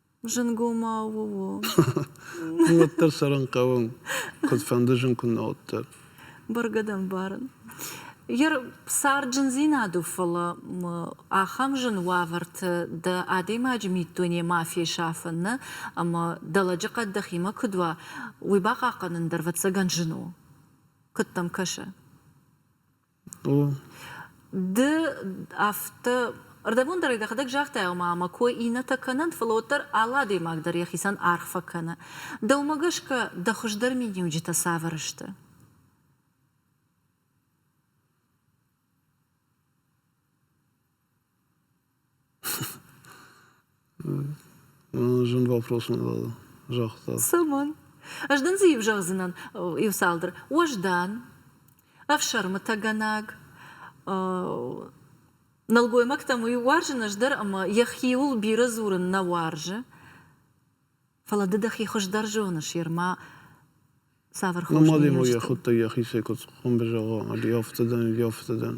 Зынгомау у. Уӕддӕр цӕрын хъӕуы, куыдфӕнды зын куыннӕ уӕддӕр. Бӕргӕ дӕ мбарын. Йер царджындзинад у, фӕлӕ ахӕм зын уавӕрты дӕ адӕймаджы миддуне ма фесафын нӕ ӕмӕ дӕ лӕджыхъӕд дӕхимӕ куыд уа, уый бахъахъхъӕнын дӕр, ӕвӕццӕгӕн, зын у. Куыд дӕм кӕсы? Ды афтӕ ӕрдӕбон дӕр дӕхӕдӕг загътай, ома ӕмӕ кой иннӕтӕ кӕнӕнт, фӕлӕ уӕддӕр алы адӕймаг дӕр йӕхицӕн аргъ фӕкӕны. Дӕумӕ гӕсгӕ дӕ хуыздӕр миниуджытӕ цавӕр сты? Зын вопрос уыдвӕл загъта. Цӕмӕн? Ӕз дын дзы иу зӕгъдзынӕн иуцалдӕр. Уӕздан, ӕфсӕрмытӕгӕнаг, нӕлгоймӕгтӕм уый уарзын ӕз дӕр ӕмӕ йӕхиуыл бирӕ дзурын нӕ уарзы. Фӕлӕ ды дӕхи хуыздӕр зоныс, ерма цавӕр хос Ма демӕ йӕ хуыдтай йӕхицӕй куыд хъуын бызӕгъа, ӕви афтӕ дӕн, ӕви афтӕ дӕн.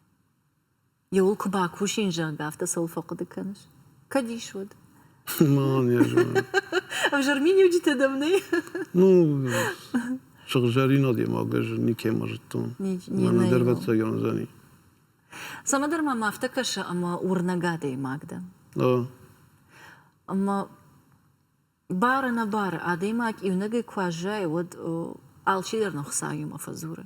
Иууыл куы бакусин, зӕгъгӕ, афтӕ цӕуыл фӕхъуыды кӕныс? Кӕд ис уӕд? Мӕнӕ зӕгъын. Ӕвзӕрминиуджытӕ дӕм нӕй? Ну, сыгъзӕрин адӕймаг, ӕз никӕмӕ зыдтон. Мӕнӕ дӕр ӕвӕццӕгӕн уыдзӕни. Цӕмӕндӕр мӕм афтӕ кӕсы, ӕмӕ уырнӕг адӕймаг дӕ. Ӕмӕ бары-нӕбары адӕймаг иунӕгӕй куы аззайы, уӕд алчидӕр нӕ Хуыцауимӕ фӕдзуры.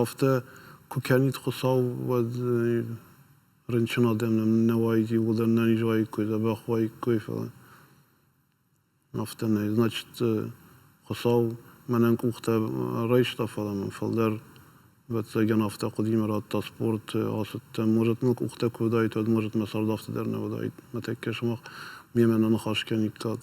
Афтӕ куы кӕнид Хуыцау, уӕд рынчын адӕм нӕм нӕ уаид, иууылдӕр нӕ низ уаиккой, дзӕбӕх уаиккой, фӕлӕ афтӕ нӕй. Значит, Хуыцау мӕнӕн къухтӕ райста, фӕлӕ мын фалдӕр ӕвӕццӕгӕн афтӕ хъуыдимӕ радта спорт, ацыдтӕн. Может, мыл къухтӕ куы уыдаид, уӕд, может, мӕ цард афтӕ дӕр нӕ уыдаид. Мӕ тӕккӕ сымах мемӕ нӕ ныхас кӕниккат.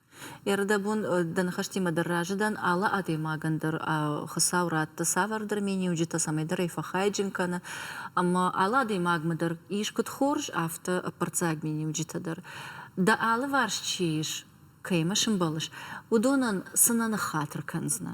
Ӕрдӕбон дӕ ныхӕстимӕ дӕр разы дӕн, алы адӕймагӕн дӕр Хуыцау ратты цавӕрдӕр миниуджытӕ, цӕмӕйдӕр ӕй фӕхайджын кӕны. Ӕмӕ алы адӕймагмӕ дӕр ис куыд хорз, афтӕ ӕппӕрццаг миниуджытӕ дӕр. Дӕ алыварс чи ис, кӕимӕ сӕмбӕлыс, уыдонӕн цы нӕ ныххатыр кӕндзынӕ?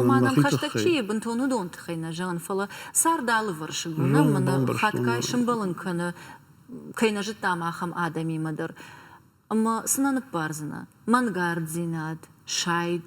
Ома нӕм хӕстӕг чи и, бынтон уыдон тыххӕй нӕ зӕгъын, фӕлӕ цард алывӕрсыг у. Нӕм мӕнӕ хатгай сымбӕлын кӕны, кӕй нӕ зыдтам, ахӕм адӕмимӕ дӕр. Ӕмӕ цы нӕ ныббардзынӕ? Мӕнгарддзинад, сайд.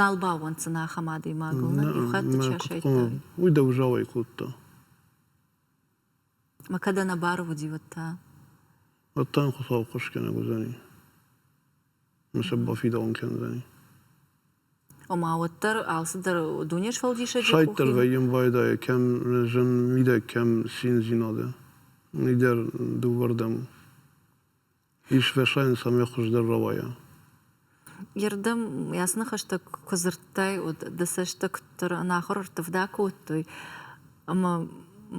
Нал бауӕнддзӕн ахӕм адӕймагыл. Уый дӕу зауӕй кодта. Ма кӕдӕ нӕ барвуди уӕд та? Уӕд та йын Хуыцау хъусгӕнӕг уыдзӕни. Mise бафидауын кӕндзӕни. Ома уӕддӕр алцыдӕр дуне сфӕлдисӕджы Сайддӕр вӕййын байдайы, кӕм зын мидӕг, кӕм циндзинады. Нидӕр дыууӕрдӕм у. Исфӕсайын цӕмӕй хуыздӕр рауайа. Йе рдӕм ясны хӕстӕг куы дзырдтай, уӕд дӕ цӕстытӕ куыддӕр ӕнахуыр ӕрттывда кодтой, ӕмӕ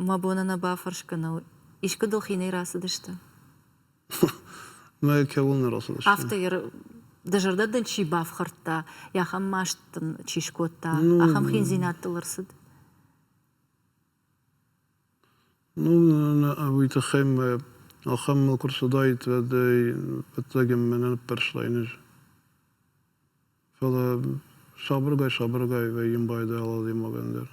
мӕ бон ӕнӕ бафӕрсгӕнӕл, искуы дыл хинӕй рацыдысты? Мӕ кӕуыл нӕ рацыдысты. Афтӕ йӕ дӕ зӕрдӕ дын чи бафхӕрдта, йӕ ахӕм маст дын чи скодта, ахӕм хиндзинӕдтыл ӕрцыд? Ну ӕуый тыххӕй мӕ ахӕм мыл куы рцыдаид, уӕдӕй ӕвӕццӕгӕн мӕ нӕ ныппӕрстай ныз. Фӕлӕ сабыргай сабыргай вӕййын йын байдайал адӕймагӕн дӕр.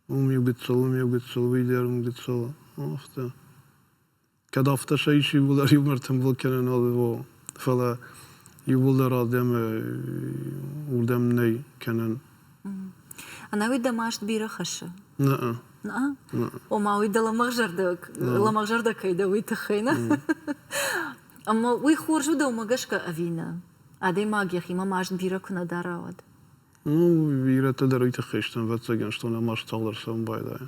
Уым иу гыццыл, уым иу гыццыл, уый дӕр уым гыццыл, афтӕ. Кӕд афтӕ сӕ ис иууылдӕр иумӕрдтын блок кӕнӕн алы во, фӕлӕ иууылдӕр ардӕмы уырдӕм нӕй кӕнӕн. Ӕнӕуи дӕ маст бирӕ хӕссы? Нӕ. Нӕ? Ома уый дӕ лӕмӕгъзӕрдӕ лӕмӕгъзӕрдӕ кӕй дӕ уый тыххӕй нӕ? Ӕмӕ уый хорз у дӕ уымӕ гӕсгӕ ӕви нӕ? Адӕймаг йӕхимӕ маст бирӕ куы нӕ дара, уӕд? Ну, бирӕтӕ дӕр уый тыххӕй сты, ӕвӕццӕгӕн, стон ӕм маст цалдӕр цӕуын байдайы.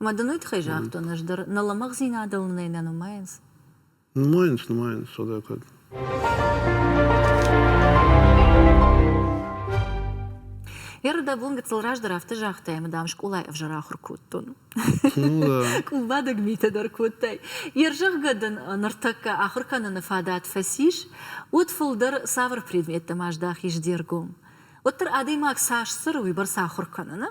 Ӕмӕ дын уый тыххӕй загътон, ӕз дӕр нӕ лӕмӕгъдзинадыл нӕ нӕ нумайынц? Нумайынц, нумайынц, содӕ кӕд. Ердобон гыццыл раздӕр афтӕ загътай, ӕмӕ дам скъолайы ӕвзӕр ахуыр кодтон. Ну, Бадӕг митӕ дӕр кодтай. Йе рзӕгъгӕ дын ныртӕккӕ ахуыр кӕныны фадат фӕцис, уӕд фылдӕр цавӕр предметтӕм аздахис де ргом? Уӕддӕр адӕймаг цас цӕры, уыйбӕрц ахуыр кӕны, нӕ?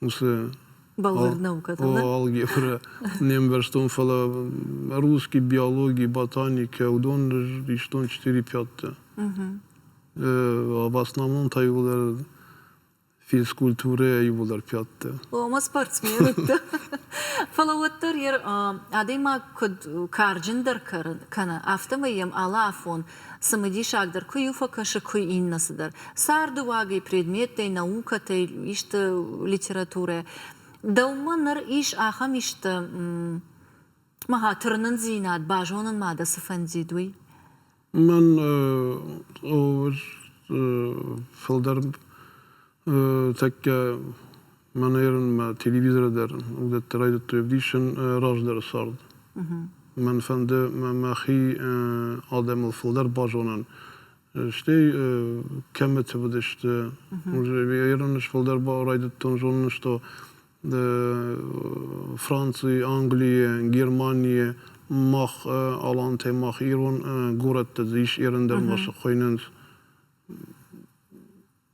уыцы бӕлвырд наукӕтыл алгебрӕ не мбӕрстон фӕлӕ русский биологи ботаника уыдон истон четыре пяттӕ в основном та иууылдӕр физкультурӕйӕ иууылдӕр пяттӕ ома спортсменӕттӕ фӕлӕ уӕддӕр йӕ адӕймаг куыд карджындӕр кӕны афтӕмӕй йӕм алы афон Цымыдисагдӕр куы-иу фӕкӕсы, куы иннӕ цыдӕр. Цардыуагӕй, предметтӕй, наукӕтӕй исты литературӕ. Дӕумӕ ныр ис ахӕм исты ма тырнындзинад базонын ма дӕ цы фӕндид, уый? Мӕн фылдӕр Тӕккӕ ма нӕрынмӕ телевизоры дӕр уыдӕттӕ райдыдтой ӕвдисын раздӕры цард. Мӕн фӕнды мӕхи адӕмыл фылдӕр базонын, стӕй кӕмыты уыдысты. Ерын ӕз фылдӕр райдыдтон зонын, што Франци, Английы, Германийы мах алантӕй мах ирон горӕттӕ ис Ерын дӕр ма сӕ хуыйнынц.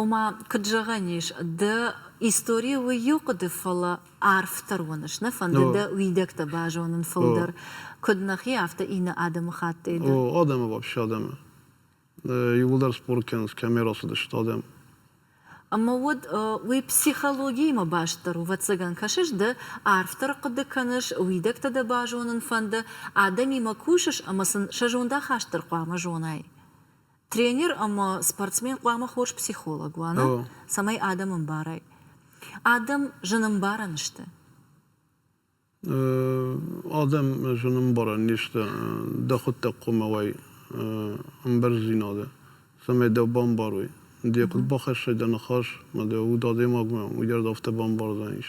Ома, куыд зӕгъӕн ис, дӕ истори у иу хъуыды, фӕлӕ арфдӕр уыныс, нӕ фӕнды дӕ уидӕгтӕ базонын фылдӕр, куыд нӕхи, афтӕ иннӕ адӕмыхаттӕй дӕр. О, адӕмы вообще адӕмы. Иууылдӕр спорт кӕнынц, кӕмӕ рацыдысты адӕм. Ӕмӕ уӕд уый психологиимӕ бастдӕр у. Ӕвӕццӕгӕн, кӕсыс, ды арфдӕр хъуыды кӕныс, уидӕгтӕ дӕ базонын фӕнды, адӕмимӕ кусыс ӕмӕ сын сӕ зондахаст дӕр хъуамӕ зонай. тренер ӕмӕ спортсмен хъуамӕ хорз психолог уа, нӕ? Цӕмӕй адӕм ӕмбарай. Адӕм зынӕмбарӕн сты. Адӕм зынӕмбарӕн не сты. Дӕ хуыддӕг хъуамӕ уай ӕмбӕрздзинады, цӕмӕй дӕ бамбарой. Дӕ куыд бахӕссай дӕ ныхас, ӕмӕ дӕ уд адӕймагмӕ уыййард афтӕ бамбардзӕнис.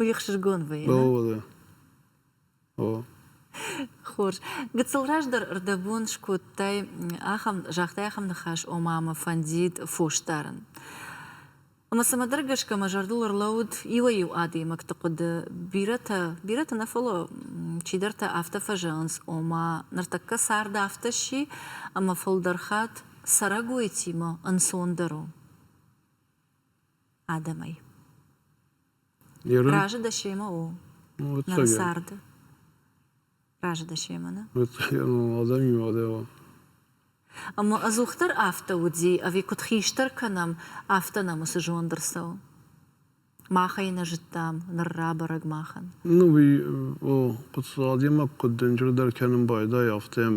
Уехсызгон вӕййы. О, о. Хорз. Гыццыл раздӕр рдӕбон скодтай ахӕм, загътай ахӕм ныхас, ома мӕ фӕндид фосдарын. Ӕмӕ цымӕдӕр гӕсгӕ мӕ зӕрдыл ӕрлӕууыд иуӕй-иу адӕймӕгты хъуыды. Бирӕтӕ, бирӕтӕ нӕ фӕлӕ чидӕртӕ афтӕ фӕзӕгъынц, ома ныртӕккӕ цард афтӕ сси, ӕмӕ фылдӕр хатт цӕрӕгойтимӕ ӕнцондӕр у. адӕмӕй. Разы дӕ семӕ у? Нӕ царды. Разы дӕ семӕ, нӕ? Адӕмимӕ адӕмы. Ӕмӕ ӕдзухдӕр афтӕ уыди, ӕви куыд хистӕр кӕнӕм, афтӕ нӕм уыцы зонд ӕрцӕуы? Махӕй нӕ зыдтам, ныр рабӕрӕг махӕн. Ну, уый, о, адӕймаг куыд дынджырдӕр кӕнын байдайы, афтӕ йӕм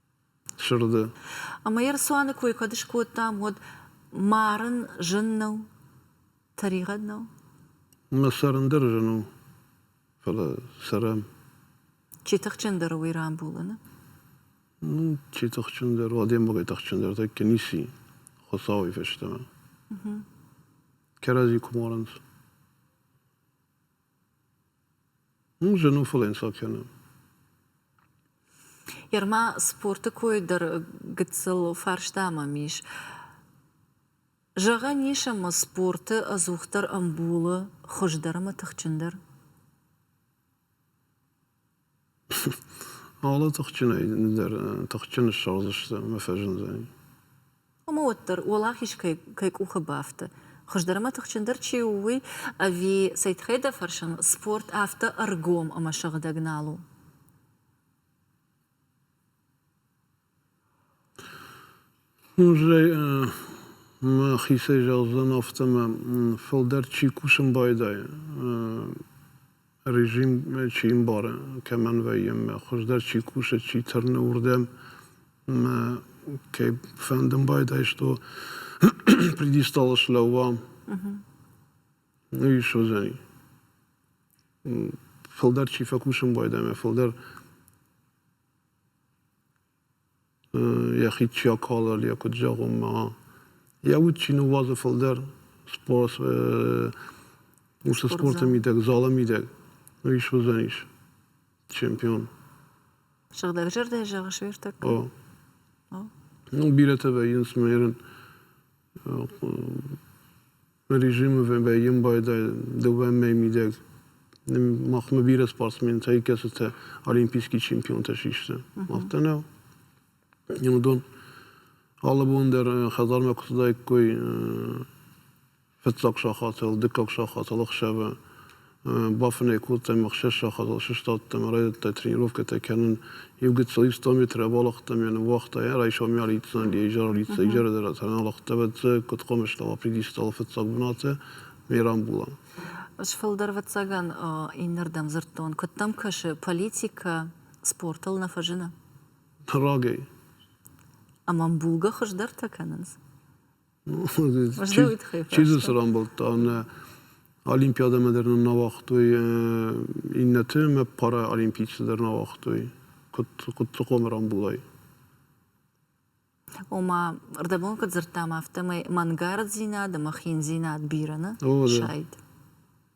сырды. Ӕмӕ йӕ рцуаны кой кӕд скодтам, уӕд марын зын нӕу, тӕригъӕд нӕу? Мӕ цӕрын дӕр зын у, фӕлӕ цӕрӕм. Чи тыхджындӕр у уый рамбулыны? Ну, чи тыхджындӕр у, адӕймагӕй тыхджындӕр тӕккӕ ници Хуыцауӕй фӕстӕмӕ. Кӕрӕдзи куы марынц. Уым зын у фӕлӕнцад кӕнын. Ерма спорты кой дӕр гыццыл фарста мӕм ис. Зӕгъӕн ис ӕмӕ спорты ӕдзухдӕр ӕмбулы хуыздӕр ӕмӕ тыхджындӕр? Алы тыхджынӕй дӕр тыхджын ссӕудзысты ӕмӕ фӕзындзӕни. Уымӕ уӕддӕр уӕлахиз кӕй кӕй къухы бафты, хуыздӕр ӕмӕ тыхджындӕр чи у, уый ӕви цӕй тыххӕй дӕ фӕрсын, спорт афтӕ ӕргом ӕмӕ сыгъдӕг нал у? Музей мӕхицӕй зӕгъдзӕн афтӕмӕй, фылдӕр чи кусын байдайы, режим чи ӕмбары, кӕмӕн вӕййы ӕмӕ хуыздӕр чи кусы, чи тырны уырдӕм ӕмӕ кӕй фӕндын байдайстой, пьедестал слӕууа, уый ис уызӕн. Фылдӕр чи фӕкусын байда ӕмӕ фылдӕр йӕхи чи акалы йӕ куыд зӕгъон мӕ йӕ уд чи ныууадзы фылдӕр уыцы спорты мидӕг залы мидӕг уый суыдзӕнис чемпион сыгъдӕг зӕрдӕ зӕгъыс уыртӕккӕ о ну бирӕтӕ вӕййынц нырын режимы вӕййын байдайы дыууӕмӕй мидӕг. Махмӕ бирӕ спортсментӕ, кӕцытӕ олимпийский чемпионтӕ систы, афтӕ нӕу. Уыдон алы бон дӕр хӕдзармӕ куы цыдаиккой фыццаг сахатыл, дыккаг сахатыл, ӕхсӕвы бафынӕй кодтам ӕхсӕз сахадыл, сыстадтам, райдыдта тренировкӕтӕ кӕнын. Иу гыццыл ста метр абалахтам, йӕ ныууагъта, йӕ райсом йӕ лидздзӕн, йӕ изӕр лидздзӕн, изӕры дӕр аналӕгъдта, бӕццӕг, куыд хъомыстӕуа, придистала фыццаг бынаты, ме рамбула. Сфылдӕр вӕццӕгӕн иннӕрдӕм дзырдтон, куыд дӕм кӕсы, политикӕ спортыл нӕ фӕзыны? Прагӕй. Ӕмӕ ӕмбулгӕ хуыздӕртӕ кӕнынц? Чи дзы цы рамбылдта, нӕ олимпиадӕмӕ дӕр нын нӕ уагътой иннӕты мӕ параолимпийцы дӕр нӕ уагътой Хъуццыхъомы рамбулай. Ома, ӕрдӕбон куыд дзырдтам, афтӕмӕй мӕнгарддзинад ӕмӕ хиндзинад бирӕ нӕ сайд.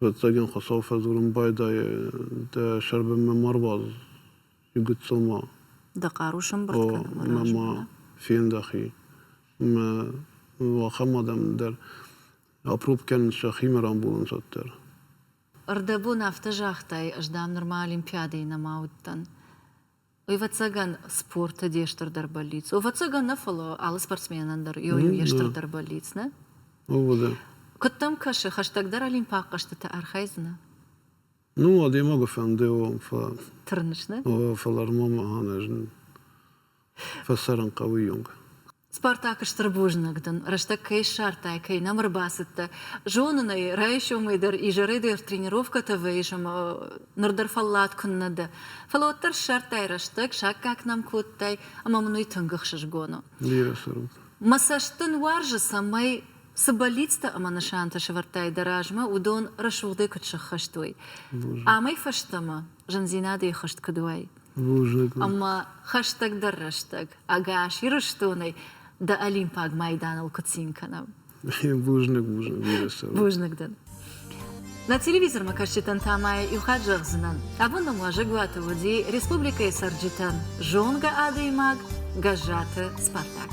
Ӕвӕццӕгин Хуцау фӕдзорун байдайай дӕ сӕрбӕлмӕ ма руадз, гыццыл ма. Дӕ хъару сӕмбурд кӕн, мӕ раджы ма фендӕхи. Мӕ уӕхӕн адӕм дӕр апрупп кӕнын сӕхимӕ рамбулынц дӕр. Ӕрдӕбон афтӕ загътай, ӕз, дам, нырма Олимпиадӕйы нӕма уыдтӕн. Ӕвӕццӕгӕн, спорты де стырдӕр бӕллиц у. Ӕвӕццӕгӕн нӕ, фӕлӕ алы спортсменӕн дӕр йо йо йе стырдӕр бӕллиц, нӕ? Ууыл дӕр. Куыд дӕм кӕсы, хӕстӕгдӕр олимпаг хъӕзтытӕ архайдзынӕ? Ну, адӕймагы фӕнды уон, фӕ. Тырныс, нӕ? Фӕлӕ ма мӕ ӕнӕзын фӕцӕрын хъӕуы йонг. Спартакы стыр бузныг дын, рӕстӕг кӕй ссардтай, кӕй нӕм ӕрбацыдтӕ. Зонын ӕй, райсомӕй дӕр изӕрӕй дӕр тренировкӕтӕ вӕййыс ӕмӕ ныр дӕр фӕллад куыннӕ дӕ. Фӕлӕ уӕддӕр ссардтай рӕстӕг, саккаг нӕм кодтай, ӕмӕ мын уый тынг ӕхсызгон у. Бирӕ сӕрут. Мӕ цӕст дын уарзы, цӕмӕй, цы бӕллицтӕ ӕмӕ нысантӕ сӕвӕрдтай дӕ размӕ, уыдон рӕсугъдӕй куыд сыххӕст уой. Амӕй фӕстӕмӕ зындзинадӕй хызт куыд уай. Ӕмӕ хӕстӕгдӕр рӕстӕг ӕгас Ирыстонӕй дӕ Олимпаг майданыл куы цин кӕнӕм. Бузныг, бузныг. Бузныг дӕн. Нӕ телевизормӕ кӕсджытӕн та ма иу хатт зӕгъдзынӕн. Абон нӕм уазӕгуаты уыди республикӕйы цӕрджытӕн зонгӕ адӕймаг Гӕззаты Спартак.